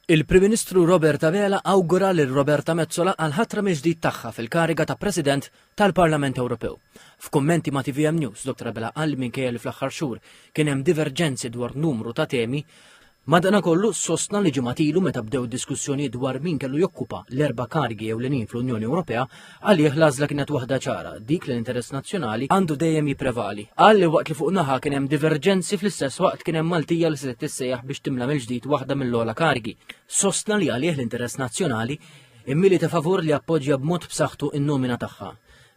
Il-Prim Ministru Robert Abela awgura lil Roberta Metsola għall-ħatra mill-ġdid tagħha fil-kariga ta' President tal-Parlament Ewropew. F'kummenti ma' tvm News, Dottor Abela qal li minkejja li fl-aħħar xhur kien hemm diverġenzi dwar numru ta' temi, Madanakollu, sostna li ġimgħat ilu meta bdew id-diskussjonijiet dwar min kellu jokkupa l-erba' karigi ewlenin fl-Unjoni Ewropea, Għalih l-għażla kienet waħda ċara, dik li l-interess nazzjonali għandu dejjem jipprevali. Qal li waqt li fuq naħa kien hemm diverġenzi fl-istess waqt kien hemm Maltija li se tissejjaħ biex timla mill-ġdid waħda mill-ogħla kargi. Sostna li għalih l-interess nazzjonali immili ta' favur li appoġġja b'mod b'saħħtu in-nomina tagħha.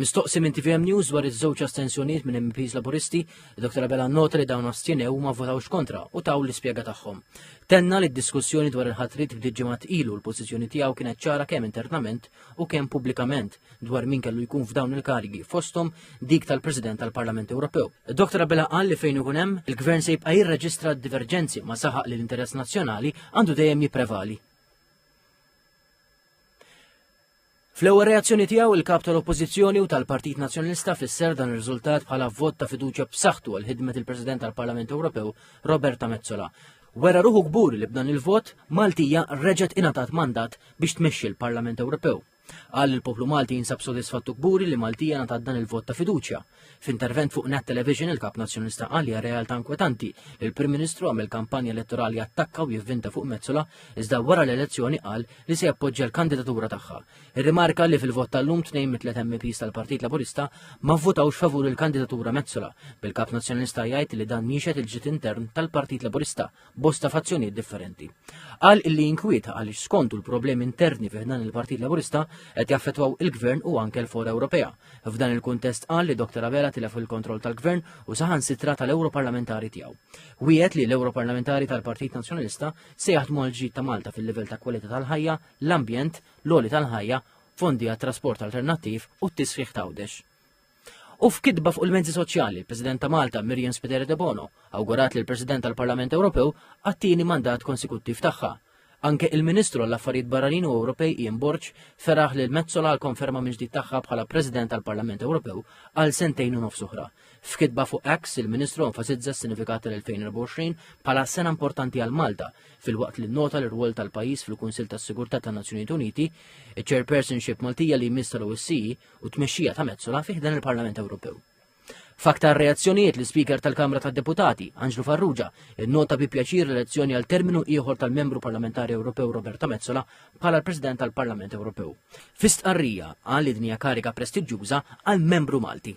Mistoqsi minn TVM News dwar iż-żewġ astensjonijiet minn MPs Laburisti, Dr. Abela nota li dawn astjenew ma votawx kontra u taw l-ispjega tagħhom. Tenna li d-diskussjoni dwar il-ħatrit bdiet ġimgħat ilu l-pożizzjoni tiegħu kienet ċara kemm internament u kemm pubblikament dwar min kellu jkun f'dawn il-karigi fosthom dik tal-President tal-Parlament Ewropew. Dr. Abela qal li fejn ikun hemm, il-Gvern se jibqa' jirreġistra d-diverġenzi ma saħaq li l-interess nazzjonali għandu dejjem jipprevali. Fl-ewwel reazzjoni tiegħu il-kap tal-Oppożizzjoni u tal-Partit Nazzjonalista fisser dan ir-riżultat bħala vot ta' fiduċja b'saħħtu għal ħidmet il-President tal-Parlament Ewropew Roberta Mezzola. Wera ruħu kburi li b'dan il-vot, Maltija reġgħet ingħatat mandat biex tmexxi l-Parlament Ewropew. Qal li l-poplu Malti jinsab sodisfatt u kburi li Maltija ngħatat dan il-vot ta' fiduċja. F'intervent fuq Net Television il-Kap Nazzjonalista qal li hija realtà inkwetanti li l-Prim Ministru għamel kampanja elettorali attakka u jivvinta fuq Metsola iżda wara l-elezzjoni qal li se jappoġġja l-kandidatura tagħha. Irrimarka li fil-vot tal-lum tnejn mit-tliet MEPs tal-Partit Laburista ma vvotawx favur il-kandidatura Metsola, bil-Kap Nazzjonalista jgħid li dan jixhed il-ġid intern tal-Partit Laburista bosta fazzjonijiet differenti. Qal illi jinkwieta għaliex skontu l-problemi interni fi ħdan il-Partit Laburista qed jaffettwaw il-Gvern u anke l-Fora Ewropea. F'dan il-kuntest qal li Dr. Abela tilef il-kontroll tal-Gvern u saħansitra tal-Ewroparlamentari tiegħu. Wiegħed li l-Ewroparlamentari tal-Partit Nazzjonalista se jaħdmu għal ġid ta' Malta fil-livell ta' kwalità tal-ħajja l-ambjent, l-għoli tal-ħajja, fondi għat-trasport alternattiv u t-tisħiħ ta' Għawdex. U f'kitba fuq il-mezzi soċjali, il-President ta' Malta, Miriam Spiteri de Bono, awgurat li l-President tal-Parlament Ewropew għattini mandat konsekuttiv tagħha. Anke il-Ministru għall-Affarijiet Barranin u Ewropej Ian Borg feraħ li l-Mezzola għal konferma minn ġdid tagħha bħala President tal-Parlament Ewropew għal sentejn u nofs oħra. F'kitba fuq X, il-Ministru enfasizza s-sinifikat tal-2024 bħala sena importanti għal Malta filwaqt li nnota l-irwol tal-pajjiż fil-Kunsill tas-Sigurtà tan-Nazzjonijiet Uniti, iċ-Chairpersonship Maltija li jmiss tal-OSCE u t-tmexxija ta' Metsola fi ħdan il-Parlament Ewropew. F'aktar reazzjonijiet l-Ispeaker tal-Kamra tad-Deputati, Anġlu Farrugia, innota bi pjaċir l-elezzjoni għal terminu ieħor tal-Membru Parlamentari Ewropew Roberta Metsola bħala l-President tal-Parlament Ewropew. Fi stqarrija qal li din hija kariga prestiġjuża għal membru Malti.